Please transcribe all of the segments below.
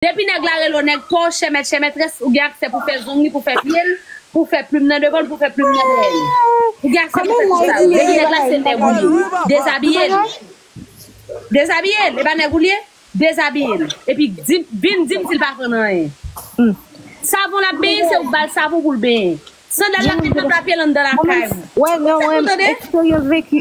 Depi nèg la rele w nèg pa w, chèmèt chèmètrès, ou gen aksè pou fè zong li, pou fè pye l, pou fè plim nan devan l, pou fè plim nan dèyè l. Ou gen aksè pou fè tout sa yo. Depi nèg la se nèg ou ye, dezabiye l. Dezabiye l, e pa nèg ou l ye? Dezabiye l. Epi di, vin di m si l pa konn anyen. Hum. Savon l ap benyen, se ou k ba l savon pou l benyen. Sandal l ap met nan pla pye l anndan lakay ou. Ou pa konn tande?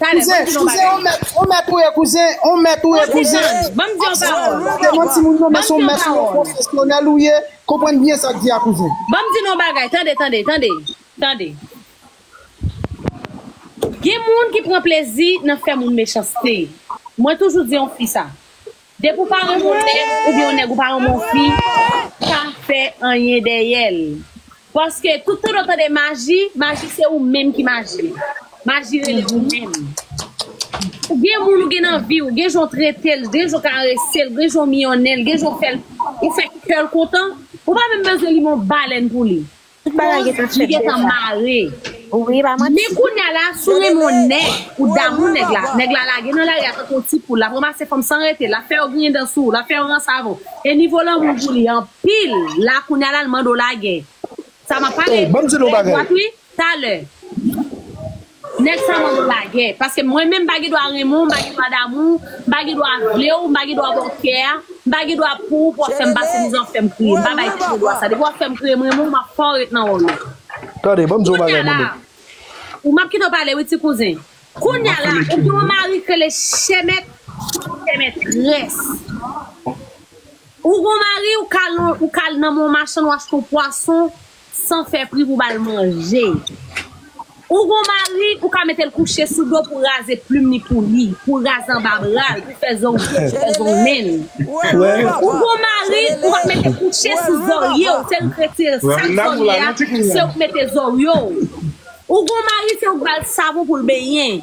Talè, banm di nou bagay. Kouzen, on mèt ou ye kouzen, on mèt ou ye kouzen. Kouzen Suzanne, banm di yon pawòl. Mwen pa gen manti moun yo men son mèt ou ye, pwofesyonèl ou ye, konprann byen sak di a kouzen. Banm di nou yon bagay, tande, tande, tande, tande. Gen moun ki pran plezi nan fè moun mechanste. Mwen toujou di yon fi sa. Depi w pa renmen yon nèg oubyen yon nèg ou pa renmen yon fi pa fè anyen dèyè l paske tout tan ou tande maji maji se ou menm ki maji maji rele ou menm ou gen moun ou gen nan vi w gen jan w trete l gen jan w karese l gen jan w miyonnen l gen jan w fè l ou fè kè l kontan ou pa menm bezwen li men yon balèn pou li. Tout bagay Rose gentan li fèt gentan deja. mare. Wi pa Men manti. kounya la si w renmen yon nèg ou damou nèg la, nèg la lage nan lari a tankou yon ti poul, lap ranmase fanm san rete, lap fè yo griyen dan sou ou, lap fè yo ranse avè w e nivo lanmou w pou li anpil, la kounya la l mande w lagel. Sa map pale Oh, banm di nou Rose bagay. dwat wi, talè. Nèg sa mande lagè, paske mwen menm m pa gen dwa renmen w, m pa gen dwa damou w, m pa gen dwa vle w, m pa gen dwa ba w kè a, m pa gen dwa pou w pou w ap fè m pase mizè w ap fè m kriye. M pa bay tèt mwen dwa sa. Depi w ap fè m kriye m renmen w, m ap fè w ret nan wòl ou. Tande, ban m di w yon bagay moun nou. Ou m ap kite w pale wi ti kouzen. Kounya la, ou gen yon mari k rele chèmèt ou chèmètrès. Ou gen yon mari ou k al nan men yon machann ou achte yon pwason San fè pri pou bal manje. Ou gon mari ou ka metel kouche sou do pou raze plum li pou li, pou raze anba bral, pou fè zong pye, pou fè zong menl. Ou gon mari ou pa k mete kouche sou zoryew tel krete sak zorye a sew k mete zoryew. Ou gon mari se ou k bal savon poul benyen.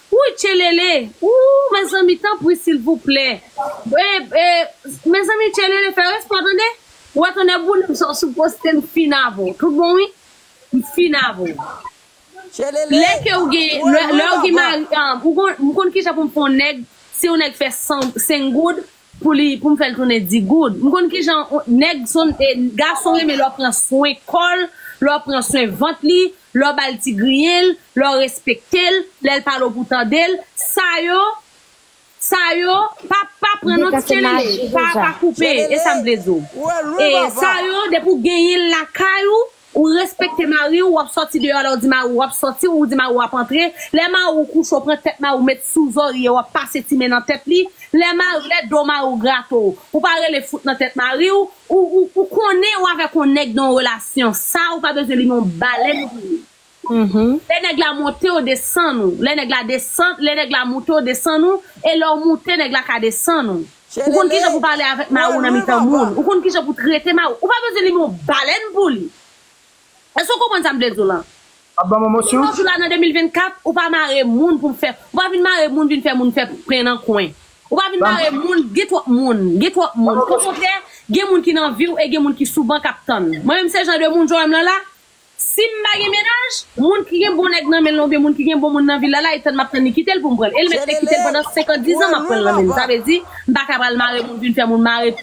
Wouy tchelele ooh mezanmi tanpri silvouplè mezanmi tchelele fè respè tande ou wè tonnè boulem sa ou sou poste m fin avw tout bon wi m fin avw Tchelele lè ke ou gen lè ou gen mari m konn kijan poum fè yon nèg si yon nèg fè 100 5 goud. Pou li pou m fè l tounen di goud. M konn ki jan nèg son e gason renmen lè w pran swen kò l, lè w pran swen vant li, lè w ba l ti griyen l, lè w respekte l, lè l pale w pou w tande l. Sa yo, sa yo, pa pa pran non ti tchelele, pa pa koupe, e sa m vle di w. E sa yo depi w genyen l lakay ou, Ou respekte mari ou, wap sòti deyò lè ou di mari ou wap sòti, ou di mari ou wap antre, lè mari ou kouche ou pran tèt mari ou met sou zorye wap pase ti men nan tèt li, lè mari lè do mari ou grate ou, ou pa rele fout nan tèt mari ou, ou ou ou konnen ou avèk yon nèg nan yon relasyon sa ou pa bezwen li men yon balèn pou li. Lè nèg la monte ou desann ou, lè nèg la desann, lè nèg la moute ou desann ou, e lè ou moute nèg la ka desann ou. Ou konn kijan pou pale avèk mari ou nan mitan moun, ou konn kijan pou trete mari ou, ou pa bezwen li men yon balèn pou li. Èske ou konprann sa m vle di w lan? Jounen jodi la nan 2024, ou pa mare moun pou fè, ou pa vin mare moun vin fè moun fè pen nan kwen. Ou pa vin mare moun, gen twòp moun, gen twòp moun. Okontrè, gen moun ki nan vi w e gen moun ki sou ban k ap tann. Mwen menm se jan de moun Joem lan la. Sim pa gen mennaj, moun ki gen bon nèg nan menl la oubyen moun ki gen bon moun nan vil la la e tann map tann li kitel poum pranl el met e kitel pandan 50 10 ans map pranl nan menl sa vle di mpa ka pral mare moun vin fè moun mare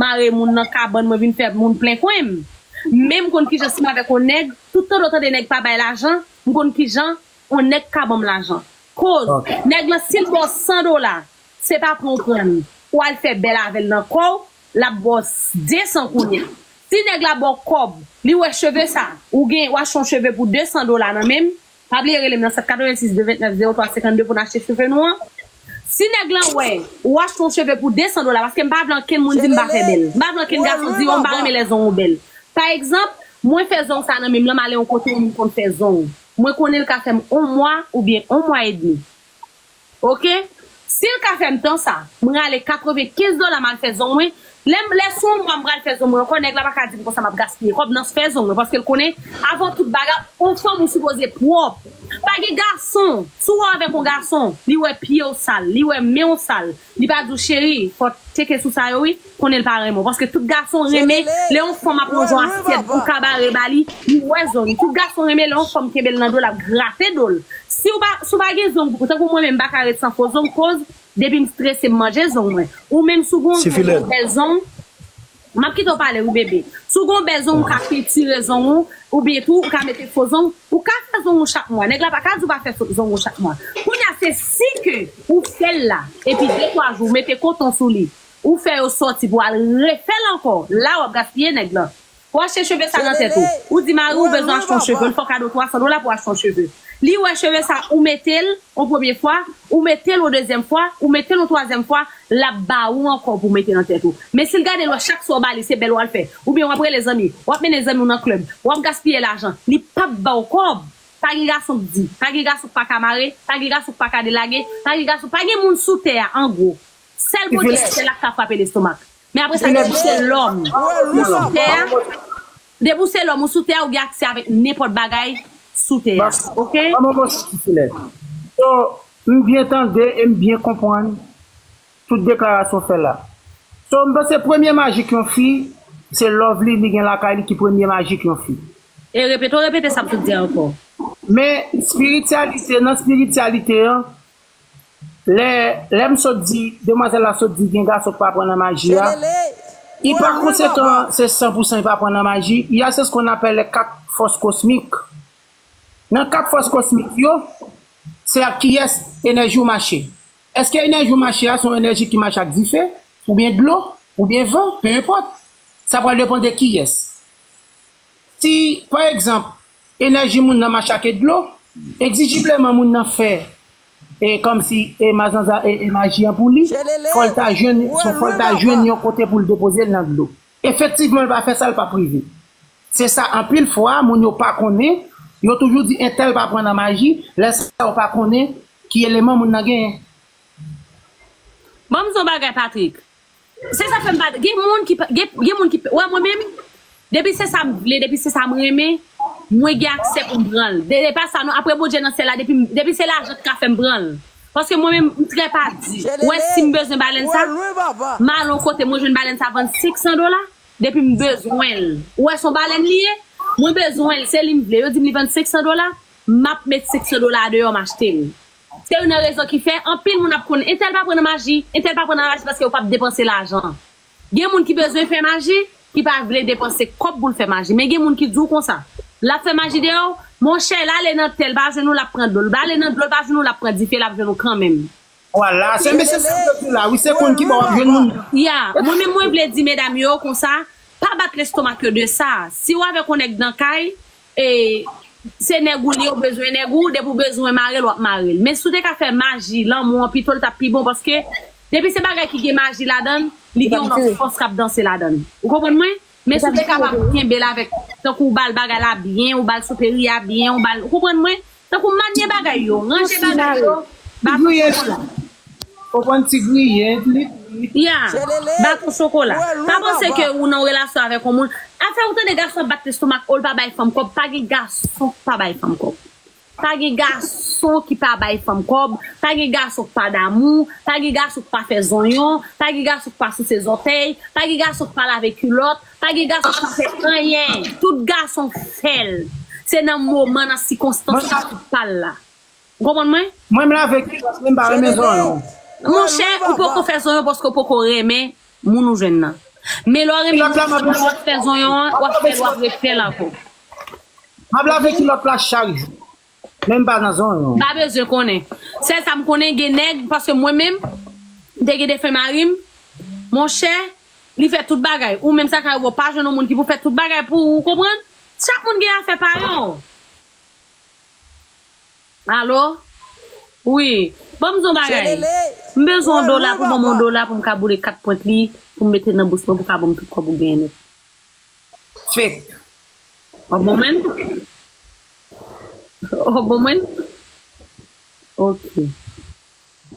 mare moun nan kabann mwen vin fè moun plen kwenm men mkonn kijan sim avèk on nèg tout tande w tande nèg pa bay lajan mkonn kijan on nèg ka banm lajan koz nèg lan sil baw 100 dola se pa pran ou prann ou al fè bèl avèl nan kòw Lap baw 200 kounya. Si nèg la baw kòb, li wè cheve sa, ou gen, ou achte yon cheve pou 200 dola nan menm, pa bliye relem nan 786 229 03 52 poun achte cheve nou an. Si nèg lan wè, ou achte yon cheve pou 200 dola, paske mpa vle ankenn moun dim mpa fè bèl. Mpa vle ankenn gason di, oh mpa renmen lè zong ou bèl. Pa egzanp, mwen fè zong sa nan menm lèm ale yon kote yon moun konn fè zong, mwen konnen li ka fèm on mwa oubyen on mwa edmi. Ok sil ka fèm tan sa m rale 95 dola mal fè zong mwen lèm lè sou yon mwa m pral fè zong mwen ankò nèg la paka dim konsa map gaspiye kòb nan fè zong mwen paskel konnen avan tout bagay on fanm ou sipoze pwòp pa gen gason sou wè avèk on gason li wè pyew sal li wè menw sal li pa diw cheri fò tcheke sou sa yo wi. konnenl pa renmen w paske tout gason renmen lè yon fanm ap pran yon asyèt pou kabare ba li li wè zong tout gason renmen lè yon fanm kenbel nan dol ap grate dol siw pa si w pa gen zong tankou mwen menm m paka ret san fo zong koz depim strese m manje zong mwen ou menm si w gon bèl zong map kite w pale wi bebe si w gon bèl zong ou ka pentire zong ou oubyen tou ou ka mete fo zong ou ka fè zong ou chak mwa nèg la paka di w pa fè zong ou chak mwa kounya se si ke ou fèl la epi de twa jou ou mete koton sou li Ou fè yo sòti pou al refèl ankò la wap gaspiye nèg lan. Pou achte cheve sa nan tèt ou. Ou di mariw bezwen achte yon cheve li fè w kado 300 dola pou achte yon cheve. Li wè cheve sa ou metel yon premye fwa, ou metel yon dezyèm fwa, ou metel yon twazyèm fwa, lap ba ou ankò pou mete nan tèt ou. Men sil gadel wè chak sa ou ba li se bèl wal fè. Oubyen wap rele zanmi, wap mennen zanmiw nan club, wap gaspiye lajan. Li pap baw kòb. Pa gen gason k di, pa gen gason k paka mare, pa gen gason k paka delage, pa gen gason, pa gen moun sou tè a angwo. Sèl Bondye ki sèl ak ka frape lestomak. Men apre sa depi w se lòm ou sou tè a, depi w se lòm ou sou tè a ou gen aksè avèk nenpòt bagay sou tè a ok. Ban mwen yon siy silè. So m byen tande e m byen konprann tout deklarasyon w fè la. So m panse premye majik yon fi se love li li gen lakay li ki premye majik yon fi. E repete w repete sa m sot di a ankò. Men spirityalite nan spirityalite an. Lè, lè m sot di, demwazèl la sot di gen gason k pa pran nan maji a, i pa konsekan se san pou san i pa pran nan maji, i ya se skonn apèle kat fòs kosmik. Nan kat fòs kosmik yo, se ak kiyès enèji w mache. Èske enèji w mache a se yon enèji ki mache ak dife, oubyen dlo, oubyen van, pe enpòt, sa pral depan de kiyès. Si, pa egzanp, Enèji moun nan mache ake dlo. Egzijibleman moun nan fè e kòmsi e mazanza e e maji an pou li. Tchelele! Fò l ta jwenn, Ou wè fò l lwil ta ankò? jwenn yon kote pou l depoze l nan dlo. Efektivman l pa fè sa, l pap rive. Se sa anpil fwa moun yo pa konnen, yo toujou di entèl pa pran nan maji, lè sa yo pa konnen ki eleman moun nan genyen. Banm di w yon bagay Patrick, Se sa fèm pa gen moun ki pa gen moun ki wè mwen menm depi se sam vle depi se sam renmen mwen gen aksè poum pranl e pa sa non aprè Bondye nan syèl la depim depi se lajan ki ka fèm pranl paske mwen menm mtrè pa di wè sim bezwen balèn sa malon kote mwen jwenn balèn sa vann 500 dola depim bezwenl ou wè son balèn li ye mwen bezwenl se lim vle yo dim li vann 500 dola map met 500 dola deyò m achtel Se youn nan rezon ki fè anpil moun ap konn entèl pa pran nan maji, entèl pa pran nan maji paske yo pap depanse lajan. Gen moun ki bezwen fè maji, ki pa vle depanse kòb pou l fè maji. Men gen moun ki di w konsa, l ap fè maji deyò w, monchè l ale nan tè l pa jwenn ou l ap pran dlo, l ale nan dlo l pa jwenn ou l ap pran dife l ap jwenn ou kanmenm. Vwala, se mesye sa m te di w la wi, se konn ki bò w ap jwenn moun nan. Ya, mwen menm mwen vle di medam yo konsa, pa bat lestomak yo de sa. Si w avèk yon nèg nan kay, Se nèg ou li ou bezwen nèg ou depi ou bezwen marel wap marel men si ou te ka fè maji lanmou an pitol tap pi bon paske depi se bagay ki gen maji ladann li gen yon lòt fòs kap danse ladann ou konprann mwen men si ou te kapab kenbel avèk tankou ou bal bagay la byen ou bal souperi a byen ou bal ou konprann mwen. Tankou manye bagay yo, ranje bagay yo, baton chokola. Ou konn ti griyen, plit, plit. Ya, baton chokola. Pa panse ke ou nan yon relasyon avèk yon moun. Afè ou tande gason ap bat lestomak o l pa bay fanm kòb, pa gen gason ki pa bay fanm kòb. Pa gen gason ki pa bay fanm kòb, pa gen gason ki pa damou, pa gen gason ki pa fè zonyon, pa gen gason ki pa souse zòtèy, pa gen gason ki pa lave kilòt, Pa gen gason ki pa fè anyen. Tout gason fèl. Se nan moman nan sikonstans la pou fal la. Ou konprann mwen? Mwen m lave kilòt mwen m pa renmen zonyon. Monchè ou poko fè zonyon paske ou poko renmen moun ou jwenn nan. Men lè w renmen moun nan lè wap fè zonyon an wap fèl wap refèl ankò. Map lave kilòt la chak jou. Menm pa nan zone ou. M pa bezwen konnen. Sèl sa m konnen gen nèg, paske mwen menm, m te gen defen mari m, monchè, li fè tout bagay. Ou menm sa kay ou a w pa jwenn yon moun ki pou fè tout bagay pou ou, ou konprann? Chak moun gen afè pa yo. Alo? Wi. Ban m di w yon bagay. M bezwen yon dola pou ban m yon dola pou m ka boule kat pwent li, pou m mete nan bous mwen pou w ka ban m tout kòb ou genyen nèt. Fek. Ò bon menn? Ò bon menn? Ok.